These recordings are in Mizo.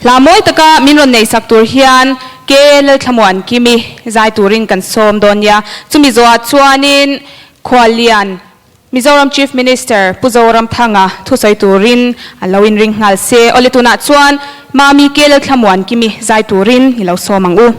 Hla mawi taka min rawn nei sak tur hian ke Lalthlamaw an kim i zai turin kan sawm dawn nia. Chumi zawha chuanin khua lian Mizoram Chief Minister Pu Zoramthanga thusawi turin an lo inring nghal se. Awle tunah chuan Mami ke Lalthlamaw an kim i zai turin i lo sawm ang u.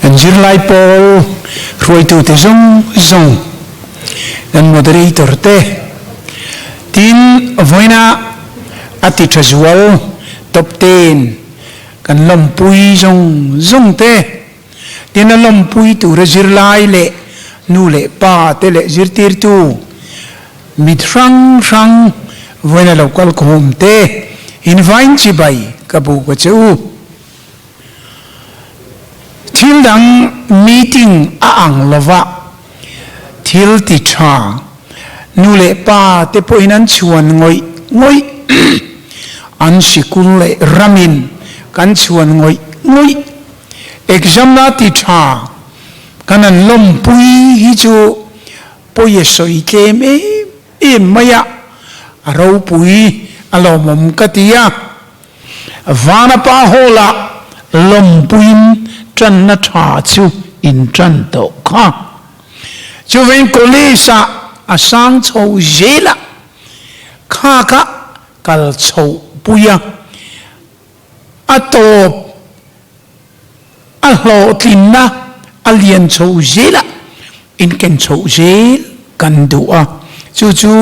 Kan zirlai pawl hruaitute zawng zawng, kan moderator te, tin vawiina a ti tha zual top ten kan lawmpui zawng zawng te, tin a lawmpui tura zirlai leh nu leh pa te leh zirtirtu mit hrang hrang vawiina lo kalkhawm te invine chibai ka bu ka che u. Thil dang meeting a ang lova thil ti tha nu leh pa te pawhin an chuan ngawih ngawih an sikul leh ram in kan chuan ngawih ngawih exam la ti tha kan an lawmpui hi chu pawi a sawi tlem em em mai a a ropui alawmawm ka ti a. Vanapa Hall-a lawmpuiin tanna tha chu in tan tawh kha. Chuvin College-ah a sang chho zela khaka kal chhoh puia a tawp. A hlawhtlinna a lian chho zel a, inken chho zel kan duh a, chu chu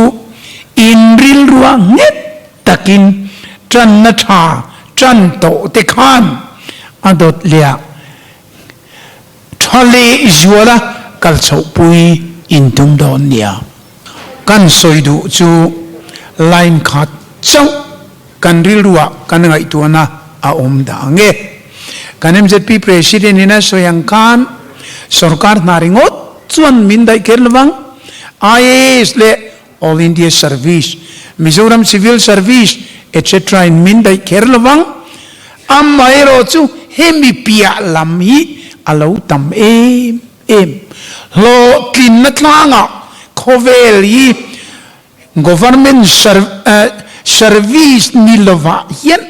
in rilrua nghet takin tanna tha tan tawhte khan a dawt leh a. Tha leh zuala kal chhohpui in tum dawn nia kan sawi duh chu line khat chauh kan rilruah kan ngaihtuahna a awm dang e. Kan mzp President in a sawi ang khan sorkar hna ringawt chuan min daih kher lovang, IAS leh All India Service, Mizoram Civil Service etc in min daih kher lovang, amaherawh chu hemi piah lam hi a lo tam em em. Hlawhtlinna tlangah khawvel hi Government Service ni lovah hian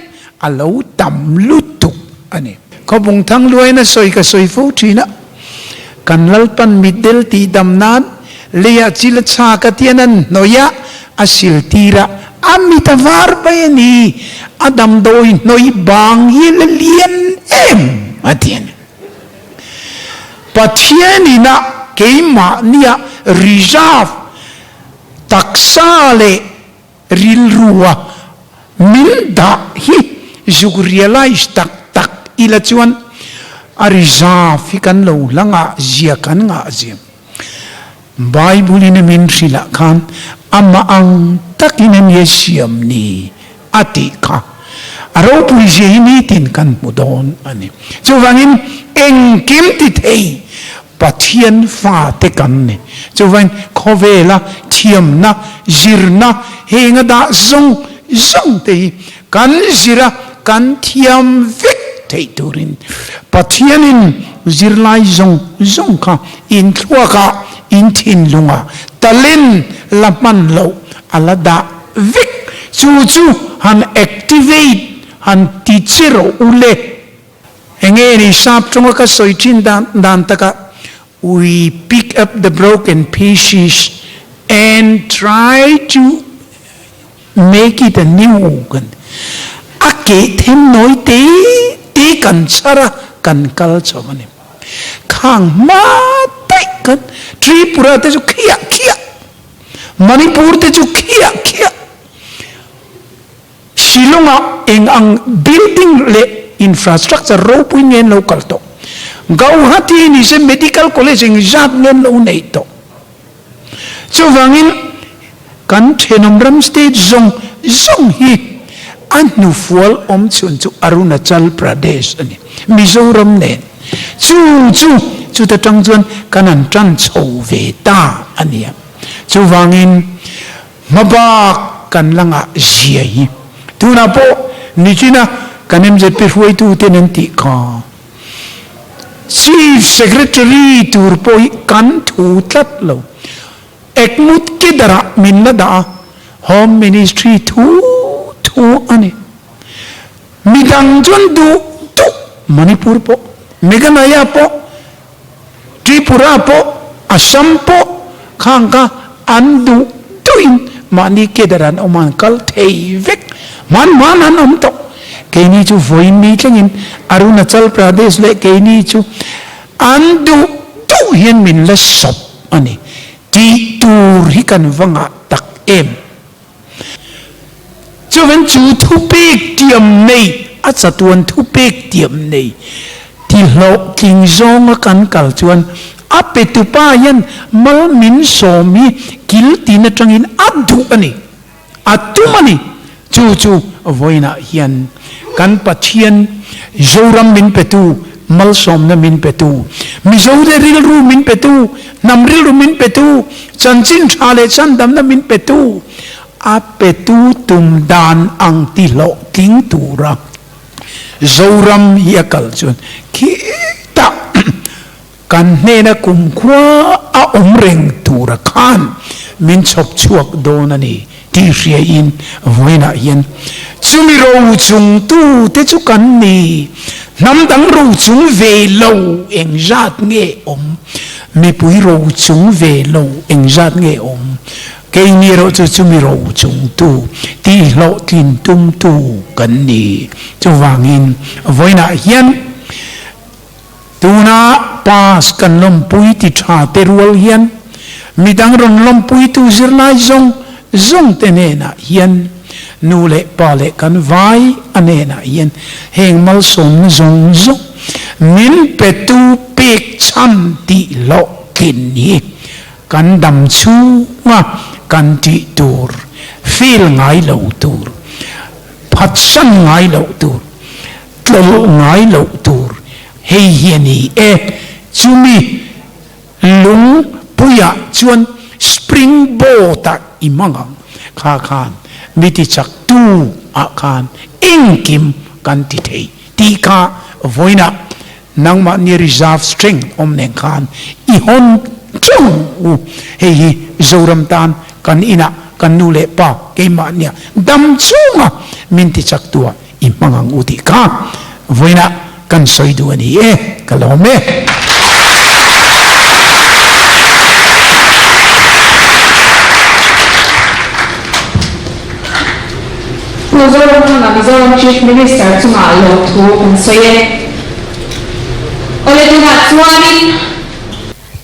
A lo tam lutuk a ni. Khawpung Thangluaina sawi ka sawi fo thin a, kan Lalpan mitdel tihdam nan leiah chila chha ka tian an hnawi a, a siltir a, a mit a var mai a ni, a damdawi hnawi bang hi a la lian em a ti a ni. Pathian in ah keimah nia reserve taksa leh. Rilrua milh dah hi zuk realize tak tak ila chuan a reserve hi kan lo hla ngah zia kan ngah zia. Bible in a min hrilh ah khan amah ang tak in ania siam ni a tih kha a ropui zia hi nitin kan hmu dawn ani. Chuvangin engkim tithei Pathian fate kan ni. Chuvain khawvela thiamna, zirna, heng a dah zawng zawng te hi kan zir a, kan thiam vek theih turin Pathianin zirlai zawng zawng kha inthluakah, inthinlungah talent la hman loh a la dah vek. Chu chu han activate han ti che rawh u le. Enge nih sap tawnga ka sawi thin dan dan taka We pick up the broken pieces and try to make it a new kan ti a. A keh them nawi te te kan chhar a, kan kal chauh a ni. Khang hma taih khan Tripura te chu khiah khiah, Manipur te chu khiah khiah. Shillonga eng ang building leh infrastructure ropui ngen lo kal tawh. Gauhati a ni se medical college eng zat ngen lo neih tawh. Chuvangin kan thenawm ram state zawng zawng hi a hnufual awm chhun chu Arunachal Pradesh a ni. Mizoram nen chu chu chuta tang chuan kan han tan chho ve ta a nia. Chuvangin. Hma bak kan la ngah zia hi. Tunah pawh Nichina kan MJP hruaitu ten an tih kha. Chief Secretary tur pawh hi kan thu tlat lo. Ekmut kedarah min la dah a, Home Ministry thu thu a ni. Midang chuan duh duh Manipur pawh, Meghalaya pawh, Tripura pawh, Assam pawh khang kha an duh duhin mahni cadre an awm a, an kal thei vek. Hman hman an awm tawh. Keini chu vawiinni thlengin Arunachal Pradesh leh keini chu an duh duh hian min la sawp a ni tih tur hi kan va ngah tak em. Chuan chu thupek tiam neih a chatuan thupek tiam neih ti hlawh tling zawnga kan kal chuan a petu pa hian Malmin sawm hi kil tin atangin a duh a ni, a tum a ni. Chu chu vawiinah hian kan Pathian Zoram min petu, Malsawmna min petu, Mizo te rilru min petu, Hnam rilru min petu, chanchin tha leh chandamna min petu, a petu tum dan ang ti hlawh tling tura Zoram hi a kal chuan khitah kan hnena kumkhua a awm reng tura khan min chhawp chhuak dawn a ni. Tih hriain vawiinah hian chumi ro chungtu te chu kan ni. Hnam dang ro chung ve lo eng zat nge awm? Mipui ro chung ve lo eng zat nge awm? Keini erawh chu chumi ro chungtu, tihhlawhtlin tumtu kan ni. Chuvangin vawiinah hian. Tuna pass kan lawmpui ti tha te rual hian midang rawn lawmpuitu zirlai zawng zawng te hnenah hian nu leh pa leh kan vai a hnenah hian heng malsawmna zawng zawng min petu pek chhan tih hlawh thin hi kan dam chhunga kan tih tur feel ngai lo tur phatsan ngai loh tur Tlawlh ngai loh tur hei hi a ni e. Chumi Lungpuia chuan Spring Boat-a i hmang ang kha khan mi tichaktu ah khan engkim kan ti thei tih kha vawiina nangmah nia reserve strength awm nen khan i hawn teuh u. Hei hi Zoram tan kan inah kan nu leh pa keimah nia dam chunga min tichaktu ah I hmang ang u tih kha vawiinah kan sawi duh a ni e, ka lawm e. Pu Zoramthanga Mizoram Chief Minister chunga lawmthu kan sawi e. Awle tunah chuanin.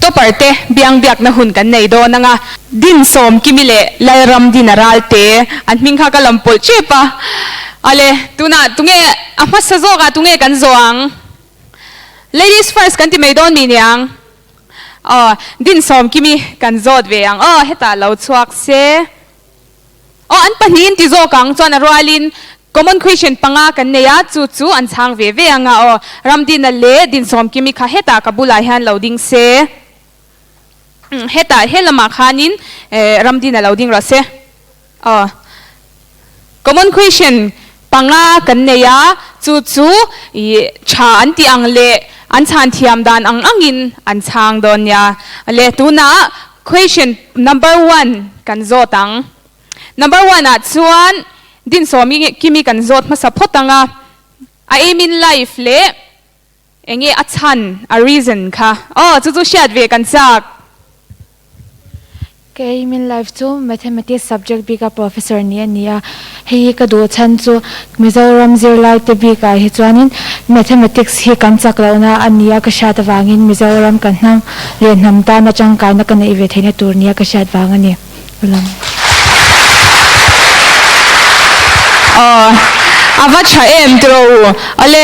Topper te biang biakna hun kan nei dawn anga Din Sawmkimi leh Lalram Dina Ralte an hming kha ka lam pawlh chip a, ale tuna tunge a hmasa zawkah tunge kan zawh ang? Ladies first kan ti mai dawn ni nia ang? Aww Din Sawmkimi kan zawt ve ang aw hetah lo chhuak se. Aw, an pahnih inti zawk ang chuan a rualin Common Question panga kan nei a, chu chu an chhang ve ve ang a aw. Ram dinna leh dinsawm kimi kha hetah ka bulah hian lo ding se. Umm, hetah he lamah khanin eh ram dinna lo ding rawh se. Aw, Common Question. panga kan nei a, chu chu i tha an tih ang leh an chhan thiam dan ang angin an chhang dawn nia. Leh tunah Question number one kan zawt ang. Number one ah chuan Din Sawmi Kimi kan zawt hmasa phawt ang a, a aim in life leh Eng nge a chhan, a reason, kha? Aw, chu chu hriat ve kan chak. Ka aim in life chu Mathematics subject bika professor nih a nia. Hei hi ka duh chhan chu Mizoram zirlai te bikah hi chuanin Mathematics hi kan chak loh na a nia ka hriat avangin Mizoram kan hmang leh hnam tana tangkaina ka neih ve theihna tur nia ka hriat vang a ni. a lang. Aw, a va tha em tiro u. Awle,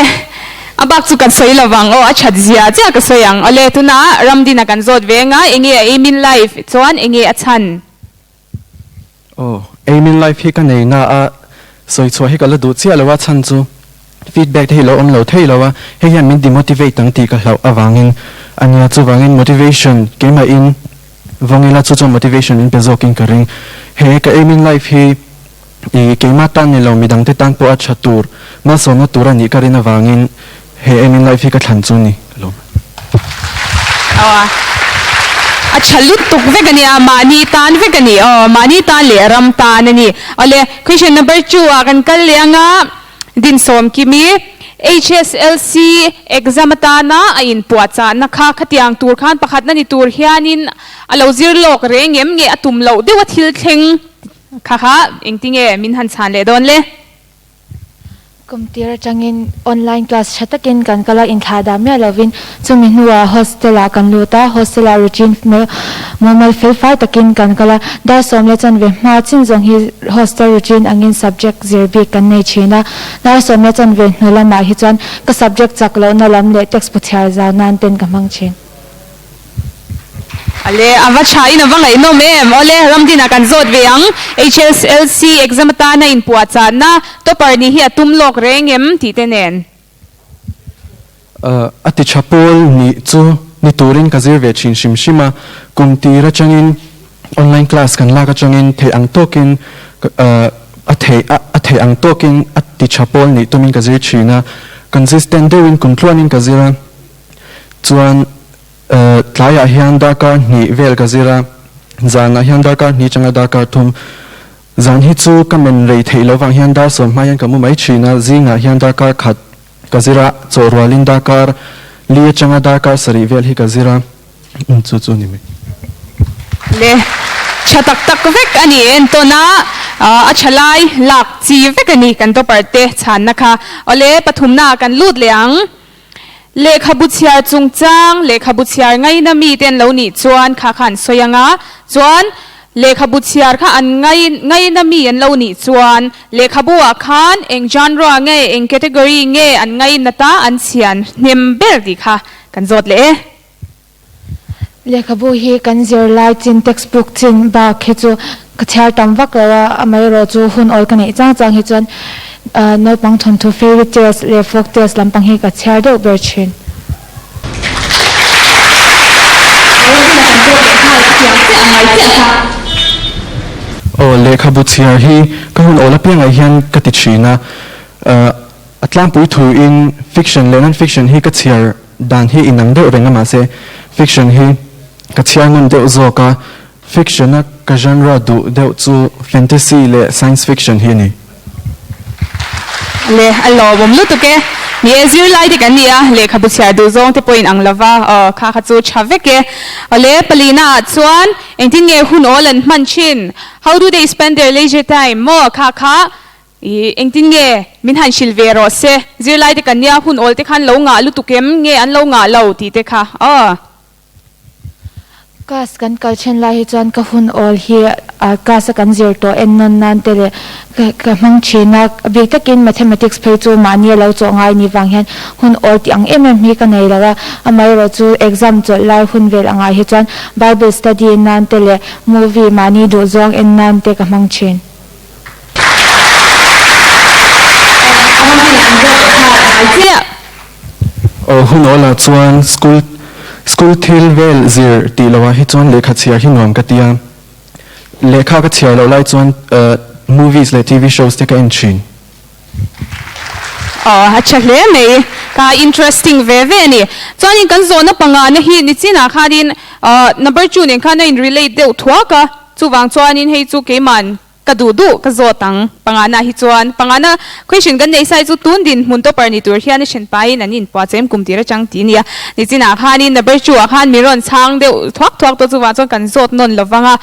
a bak chu kan sawi lovang. Aw, a that zia chiah ka sawi ang. Awle, tuna Ramdin a kan zawt ve nga, enge a aimin life chuan enge a chhan? Aw, aimin life hi ka nei nga a, sawi chhuah hi ka la duh chiah lo a chhan chu. Feedback te hi lo awm lo thei lo a, hei hian min demotivate ang tih ka hlauh avangin a nia. Chuvangin motivation keimahin vawng ila, chu chuan motivation in pe zawkin ka ring. He ka aim in life hi i keimah tan ni lo, midang te tan pawh a tha tur, malsawmna tur a nih ka rin avangin he aim in life hi ka thlan chu ni lo. A tha lutuk vek a ni a, mahni tan vek a ni aw, mahni tan leh ram tan a ni awle. Question number two ah kan kal leh ang a. Din Sawmkim i HSLC exam atana a inpuahchahna kha khatiang tur khan pakhatna ni tur hianin a lo zir lawk reh ngem nge a tum loh deuh a thil thleng kha kha engti nge min han chhan leh dawn le. Kumtir atangin online class tha takin kan kal a, inthlahdah miah lovin. Chumi hnuah hostel-ah kan lut a, hostel-ah routine mumal felfai takin kan kal a. Dar sawm leh chanve hma chin zawng hi hostel routine angin subject zir bik kan nei thin a. Dar sawm leh chanve hnu lamah hi chuan ka subject chak lohna lam leh text pawthiar zau nan ten ka hmang thin. A le, a va tha in a va ngaihnawm em? Aw le, ram dinah kan zawt ve ang. HSLC exam atana inpuahchahna, topper nih hi a tum lawk reng em? tih te nen. A ti tha Paul nih chu ni turin ka zir ve thin hrim hrim a, kum tir atangin online class kan lak atangin theih ang tawkin a theih a theih ang tawkin a ti tha Paul nih tumin ka zir thin a, consistent deuhin kum tluanin ka zir a, chuan tlaiah hian darkar hnih vel ka zir a, zanah hian darkar hnih atanga darkar thum, zan hi chu ka men rei theih lo vang hian dar sawm hma hian ka mu mai thin a, zingah hian darkar khat Ka zir a, chaw rualin darkar li atanga darkar sarih vel hi ka zir a. Umm chu chu ni mai. Le tha tak tak vek a ni. Entawn a, a tha lai lak chi vek a ni kan topper te chhanna kha. Awle pathumna ah kan lut leh ang. Lehkhabu chhiar chungchang, lehkhabu chhiar ngaina mite an lo nih chuan kha kha an sawi anga chuan, Lehkhabu chhiar kha an ngai ngaina mi an lo nih chuan lehkhabuah khan eng genre nge eng category nge an ngai nata an chhian hnem ber tih kha kan zawt leh e. Lehkhabu hi kan zirlai chin, text book, chin bak hi chu ka chhiar tam vak lo a, amaherawh chu hun awl ka neih chang chang hi chuan naupang thawnthu fairy tales leh folk tales lampang hi ka chhiar deuh ber thin. Aw, lehkhabu chhiar hi ka hun awl apiangah hian ka ti thin a. Ahh, a tlangpui thuin fiction leh non-fiction hi ka chhiar dan hi inang deuh reng a mahse fiction hi ka chhiar ngun deuh zawk a. Fiction-a ka genre duh deuh chu fantasy leh science fiction hi a ni. Leh a lawmawm lutuk e. Ni e, zirlai te kan ni a, lehkhabu chhiar duh zawng te pawhin ang lova, aw, kha kha chu tha vek e. Awle, palina ah chuan engtin nge hun awl an hman thin? How do they spend their leisure time? Maw, kha kha, ih, engtin nge min han hrilh ve rawh se, zirlai te kan nia, hun awl te khan lo ngah lutuk em, nge an lo ngah lo tih te kha, aw. Class kan kal then lai hi chuan ka hun awl hi class a kan zir tawh en nawn nan te leh ka hmang thin a, a bik takin Mathematics phei chu mahni a lo chawh ngai ni vang hian hun awl tih ang em em hi ka nei lo a, amaherawh chu exam chawlh lai hun vel angah hi chuan Bible study en nan te leh movie mahni duhzawng en nan te ka hmang thin. Aw hun awl ah chuan school school thil vel zir tih lo ah hi chuan lehkha chhiar hi nuam ka ti a, lehkha ka chhiar loh lai chuan movies leh TV shows te ka en thin. Aww a tha hle mai kha interesting ve ve a ni chuanin kan zawhna pangahna hi nichinah khanin number two nen khan a in relate deuh thuak a chuvang chuanin hei chu keiman ka duh duh ka zawt ang pangahna hi chuan pangahna question kan nei sai chu tun dinhmun topper ni tur hian a then paiin an in puahchem kum tir a chang tih a nia nichinah khanin number two ah khan min rawn chhang deuh thuak thuak tawh chuvang chuan kan zawt nawn lovang a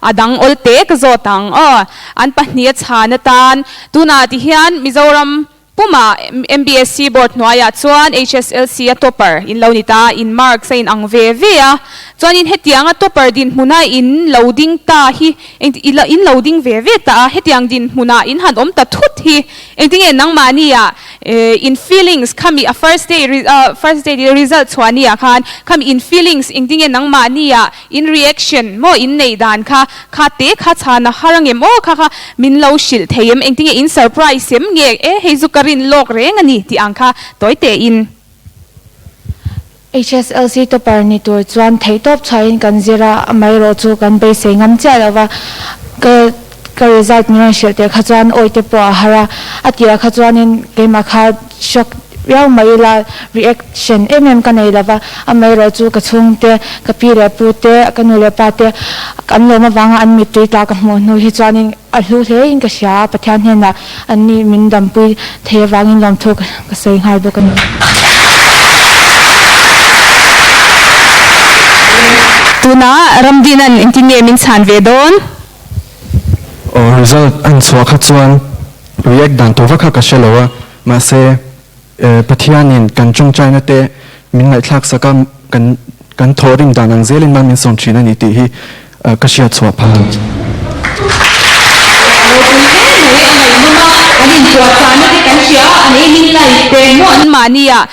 a dang awlte ka zawt ang aw an pahnih a chhan atan Tunah ti hian Mizoram puma MBSC board hnuaiah chuan HSLC a topper in lo ni ta, in marks a in ang ve ve a. Chuanin hetianga topper dinhmuna in lo ding ta hi engtin in lo ding ve ve ta a, hetiang dinhmunah in han awm ta thut hi engtinge nangmahnia in feelings khami a first day first day result chhuahnia khan khami in feelings engtinge nangmahnia In reaction maw in neih dan kha kha te kha chhan a har ange maw kha kha min lo hrilh thei em engtin nge in surprise em nge e hei zu ka rin lawk reng a ni tih ang kha tawi teh in. HSLC topper ni tur chuan theih tawp chhuain kan zir a, amaherawhchu kan beisei ngam chiah lo va. Ka result min rawn hrilh tel kha chuan awite pawh a har a, a tihah kha chuanin keimah kha shock riau mai ila, reaction em em ka nei lo va, amaherawh chu ka chhungte, ka pi leh pu te, ka nu leh pa te an lawm avanga an mittui ta ka hmuh hnu hi chuanin a hlu hle in ka hria a, Pathian hnenah an nih min dampui thei avangin lawmthu ka sawi nghal bawk a ni. Tunah ramdina an entinge min chhan ve dawn Aww result a inchhuah kha chuan react dan tur va kha ka hre lo a, mahse eh Pathianin kan tawngtaina te min ngaihthlak sak a, kan kan thawh rim dan ang zelin mah min sawm thin a ni tih hi ka hria chhuah phah a. an mahni ah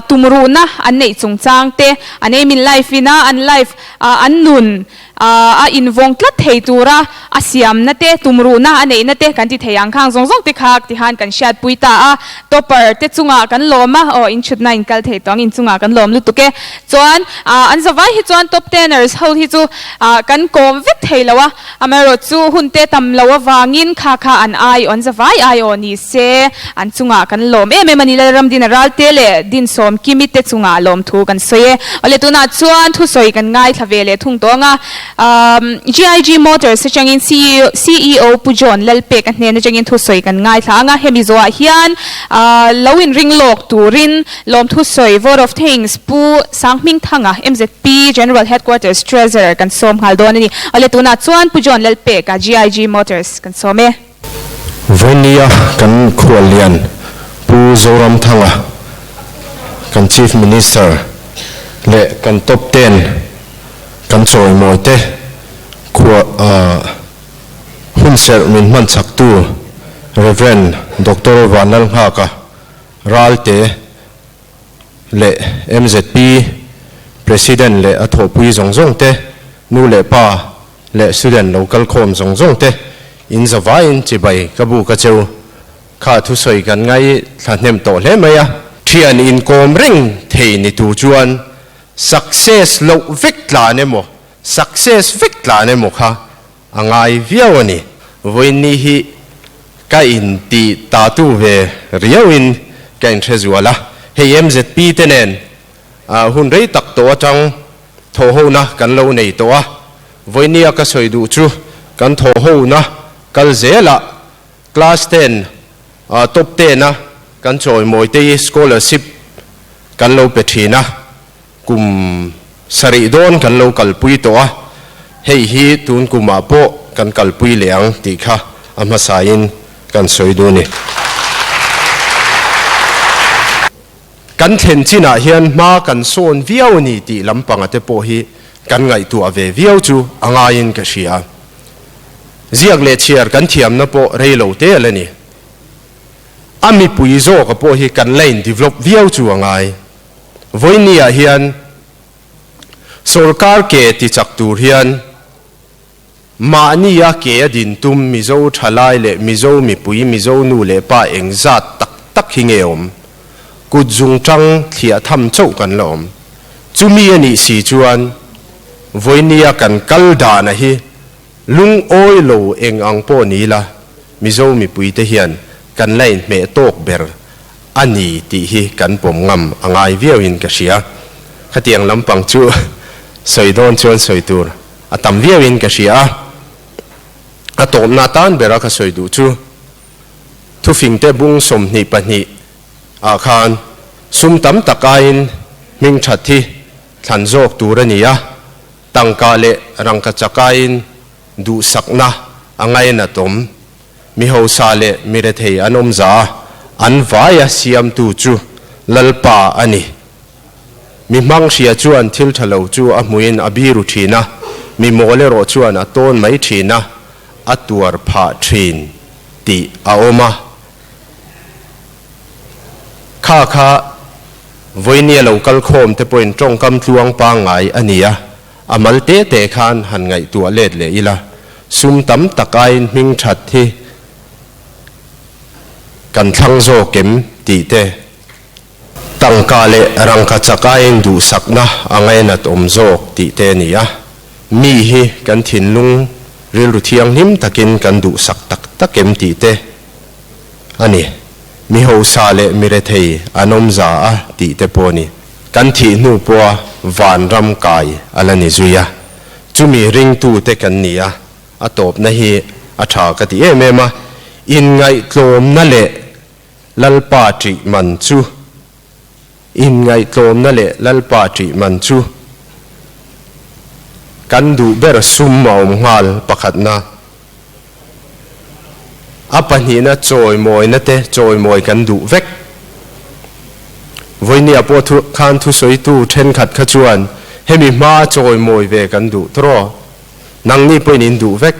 tumruhna an neih chungchang te an aim in life ina an life an nun. a invawng tlat thei tura a siamna te, tumruhna a neihna te kan ti thei ang khang zawng zawng te kha tihan kan hriatpui ta a. Topper te chungah kan lawm a, aw inchhutna in kal thei tawh ang, inchungah kan lawm lutuk e. Chuan an zavai hi chuan top teners ho hi chu kan kawm vek thei lo a, amaherawhchu hunte tam lo avangin kha kha an aiawh, an zavai aiawh ni se. An chungah kan lawm em em a ni. Lalramdina ralte leh din sawm kimi te chungah lawmthu kan sawi e. Awle tunah chuan thusawi kan ngai thla ve leh thung tawng a. GIG Motors atangin CEO Pu John Lalpek-a hnen atangin thusawi kan ngai thla ang a. He Mizoah hian lo inring lawk turin lawmthu sawi Vote of Thanks Pu Sanghming Thanga, MZP General Headquarters Treasurer, kan sawm nghal dawn a ni. Awle tunah chuan Pu John Lalpek-a GIG Motors kan sawm e. Vawnia kan khuallian Pu Zoramthanga kan Chief Minister leh kan Top Ten kan chawimawite khua hunserh min hmanchhaktu Rev. Doctor Van Lalnghaka ralte leh MZP President leh a thawhpui zawng zawngte nu leh pa leh student lo kal khawm zawng zawng te in zavaiin chibai ka bu ka cheu kha thusawi kan ngai thla hnem tawh hle mai a. Thian inkawm reng thei ni tur chuan success loh vek tlan emaw success vek tlan emaw kha a ngai viau a ni. Vawiinni hi ka in ti ta tu ve riauin ka in hrezual a, hei mzp te nen hun rei tak tawh atang. thawhona kan lo nei tawh a, Vawiniya ka sawi duh chu kan thawhona kal zel a, class ten ah top ten a kan chawimawi te hi scholarship kan lo pe thin a, kum sarih dawn kan lo kalpui tawh a, hei hi tun kumah pawh kan kalpui leh ang tih kha a hmasaiin kan sawi duh a ni. Kan thlen chinah hian hma kan sawn viau a ni tih lam panga te pawh hi kan ngaihtuah ve viau chu a ngaiin ka hria. Ziak leh chhiar kan thiamna pawh rei lo te ala ni. A mipui zawka pawh hi kan la indevelop viau chu a ngai. Vawinia hian sorkar ke tichak tur hian. Mahnia ke a din tum Mizo thalai leh Mizo mipui, Mizo nu leh pa eng zat tak tak hi nge awm? Kut zung tang thliah tham chauh kan la awm. Chumi a nih si chuan Vawinia kan kal dahna hi lungawi lo eng ang pawh ni ila, Mizo mipui te hian kan la inhmeh tawk ber a ni tih hi kan pawm ngam a ngai viau in ka hria. Khatiang lampang chu sawi dawn chuan sawi tur A tam viau in ka hria a, a tawpna tan bera ka sawi duh chu. Thufing te bung sawmhnih pahnih ah khan sum tam tak aiin hming that hi thlan zawk tur a ni a, tangka leh rangkachak aiin duhsakna a ngai nat awm. Mihosa leh mirethei an awmza an vaia siamtu chu Lalpa a ni. Mi hmang hria chuan thil tha lo chu a hmuin a biru thin a, mi maw lerawh chuan a tawn mai thin a, a tuar phah thin tih a awm a. Kha kha Vawinia lo kal khawm te pawhin tawngkam tluang pangngai a ni a, a mal teh teh khan han ngaihtuah let leh ila, sum tam tak aiin hming that hi kan thlang zawk em tih te. Tangka leh rangka chak aiin duhsakna a ngainat awm zawk tih te a ni a, mi hi kan thinlung rilru thianghlim takin kan duhsak tak tak em tih te a ni. Mi hausa leh mi rethei an awmza a tih te pawh a ni. Kan thih hnu pawha van ram kai a la ni zui a, chumi ringtu te kan ni a, a tawpna hi a tha ka ti em em a, inngaihtlawmna leh Lalpa tih man chu inngaihtlawmna leh Lalpa tih man chu kan duh ber sum a awm nghal pakhatna. A pahnihna chawimawina te chawimawi kan duh vek. Vawinia pawh thu khan thusawitu thenkhat kha chuan hemi hma a chawimawi ve kan duh tawrh aw, nangni pawhin in duh vek.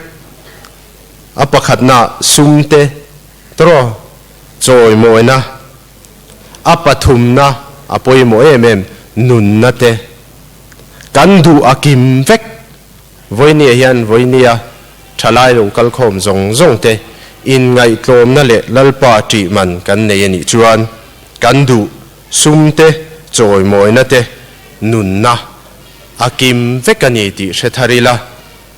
A pakhatna sum te. Tro chawimawina, a pathumna a pawimawh em em, nunna te kan duh a kim vek. Vawinia hian Vawinia thalai lung kalkhawm zawng zawng te in ngaihtlawmna leh Lalpa tih man kan nei a nih chuan kan duh sum te chawimawina te nunna a kim vek a ni tih hre thar ila.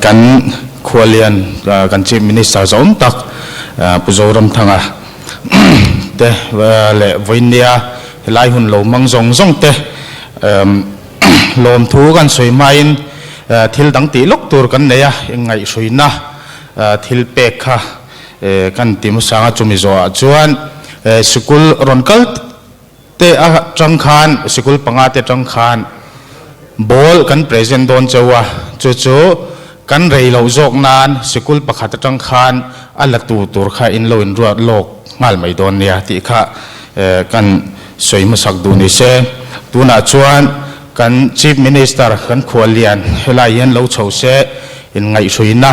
Kan khualian kan Chief Minister zawm tak Pu Zoramthanga te leh Vawinia helai hun lo mang zawng zawng te lawmthu kan sawi hmain thil dang tih lawk tur kan nei a, engngaihruyna thil pek kha kan ti hmasanga chumi zawhah chuan Sikul rawn kal tak tak. Te atang khan sikul panga te atang khan ball kan present dawn che a, chu chu kan rei loh zawk nan sikul pakhat atang khan a la tu tur kha in lo inruat lawk nghal mai dawn nia tih kha kan sawi hmasak duh ni se. Tunah chuan kan Chief Minister kan Khuallian helai hian lo chho se in ngaihruina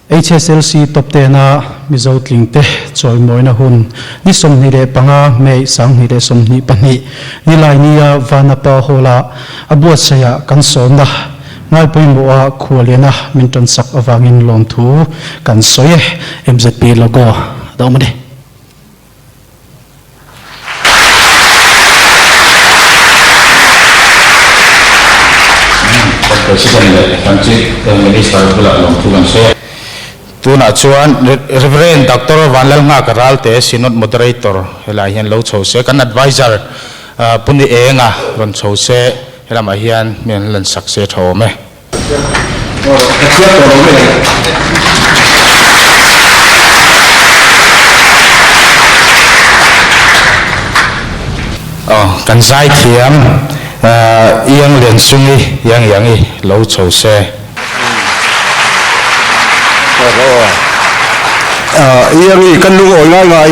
HSLC Top Ten a Mizo Tlingte chawimawina hun ni sawmhnih leh panga, May sanghnih leh sawmhnih pahnih, ni Lainia Vanapa Hall-a a buatsaia kan sawmna Ngai pawimawha khua liana min tansak avangin lawmthu kan sawi e. MZP Logo a awm a ni. Tunah chuan Reverend Doctor Vanlal Nghaka Ral te Synod Moderator helaiah hian lo chho se, kan Advisor Pu Ni Enga rawn chho se, helamah hian mi an lansak se thawm e. Kan zaithiam Iang Lian Sung i Iang Iang i lo chho se. Iang i kan lungawi ngai ngai.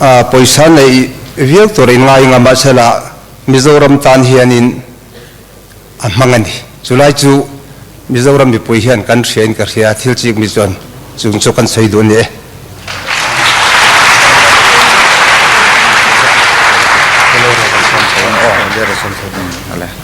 a pawisa neih viau tur in ngai ngam a chhela Mizoram tan hian in a hmang a ni. Chulai chu Mizoram mipui hian kan hria in ka hria a thil chik mi chuan chung chu kan sawi duh a ni e.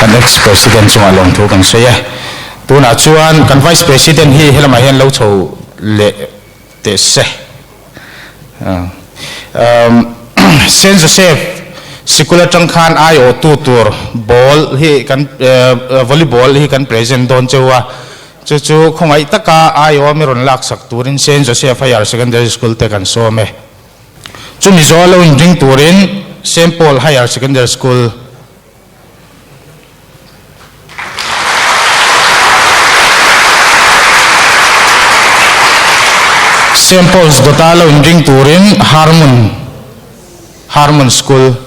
kan ex president chunga lawm thu kan sawi a tunah chuan kan vice president hi helamah hian lo chho leh teh se. Umm Saint Joseph sikul atang khan aiawhtu tur ball hi kan umm volleyball hi kan present dawn cheu a, chu chu khawngaiih taka aiawm i rawn laksak turin Saint Joseph Higher Secondary School te kan sawm e. Chumi zawh a lo inring turin Saint Paul Higher Secondary School, Saint Paul's Dawta lo in ring turin Harmon Harmon School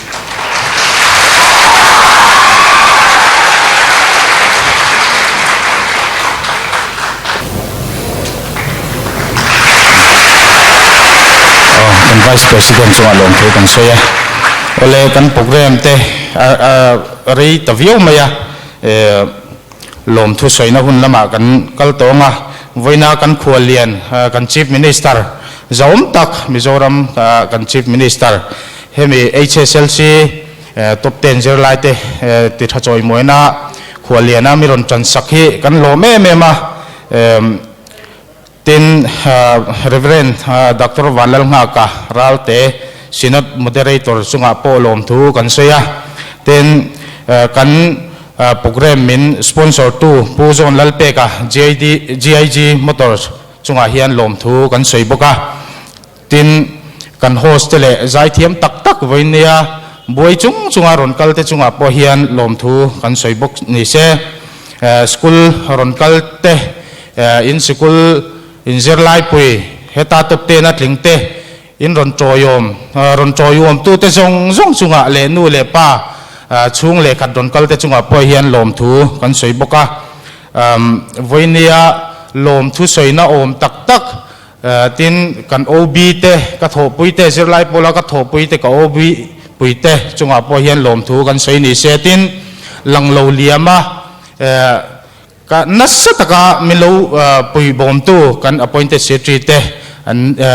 Vice President chunga lawm phei kan sawi a, awle kan programme te a rei ta viau mai a. Lawmthu sawina hun lamah kan kal tawng a, vawiina kan khua lian kan Chief Minister zaawm tak Mizoram kan Chief Minister hemi HSLC top ten zirlaite ti tha chawimuaina khua liana mi rawn tansak hi kan lawm em em a. Tin, Rev. Doctor Vanlal Nghaka ralte Synod Moderator chungah pawh lawm thu kan sawi a, tin, kan Programme min Sponsor tu Pu John Lalpeka GIG Motors chungah hian lawm thu kan sawi bawk a. Tin, kan host te leh zaithiam tak tak vawiin nei a, buai chung chunga rawn kal te chungah pawh hian lawmthu kan sawi bawk ni se. School rawn kal te, in sikul in zirlaipui, heta tawpten a tling te, in rawn tawihawm, rawn tawihawmtu te zawng zawng chungah leh nu leh pa chhung leh khat rawn kal te chungah pawh hian lawmthu kan sawi bawk a. Vawiin neia lawmthu sawina awm tak tak Tin, kan OB te, ka thawhpui te, zirlai Paula ka thawhpui te, ka OB pui te chungah pawh hian lawmthu kan sawi ni se. Tin, lang lo liam a ka nasa taka min lo pui bawmtu kan Appointed Secretary te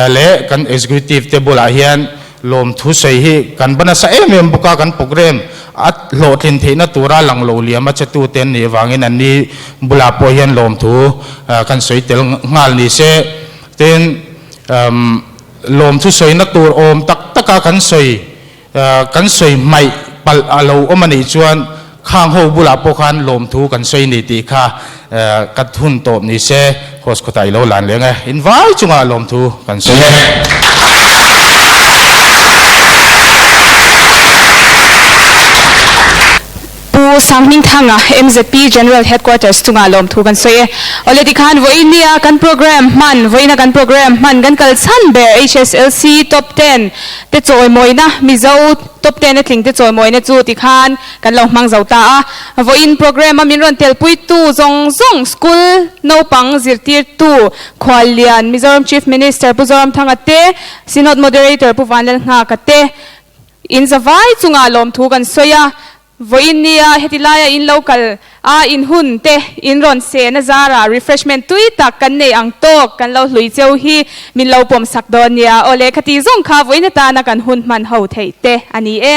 leh kan Executive te bulah hian, Lawmthusawi hi kan va nasa em em bawk a, kan programme a hlawhtlin theihna tura lang lo liam a chetute an nih avangin an ni bulah pawh hian lawmthu kan sawi tel nghal ni se. Tin, umm, lawmthusawiina tur awm tak taka kan sawi, kan sawi hmaih palh a lo awm a nih chuan, Khang ho bulah pawh khan lawmthu kan sawi ni tih kha ka hun tawp ni se, Host kawtah i lo lan leng e, in vai chungah lawmthu kan sawi e. Pu Sanghminthanga MZP General Headquarters chungah lawmthu kan sawi e. Awle ti khan vawiin nia kan programme hman, vawiina kan programme hman kan kal chhan ber, HSLC, Top Ten te chawimawina Mizo, Tawptena tlingte chawimawina chu ti khan kan lo hmang zo ta a. Vawiin programme-a min rawn telpuitu zawng zawng school naupang zirtirtu Khual Lian, Mizoram Chief Minister Pu Zoramthanga te, Synod Moderator Pu Vanlalhnga ka te in zavai chungah lawmthu kan sawi a. Vawiin nia heti laia in lo kal a inhun te in rawn se na zara refreshment tui tak kan nei ang tawk kan lo hlui cheu hi min lo pawm sak dawn nia aw le khati zawng kha vawiina tana kan hun hman ho theih te a ni e.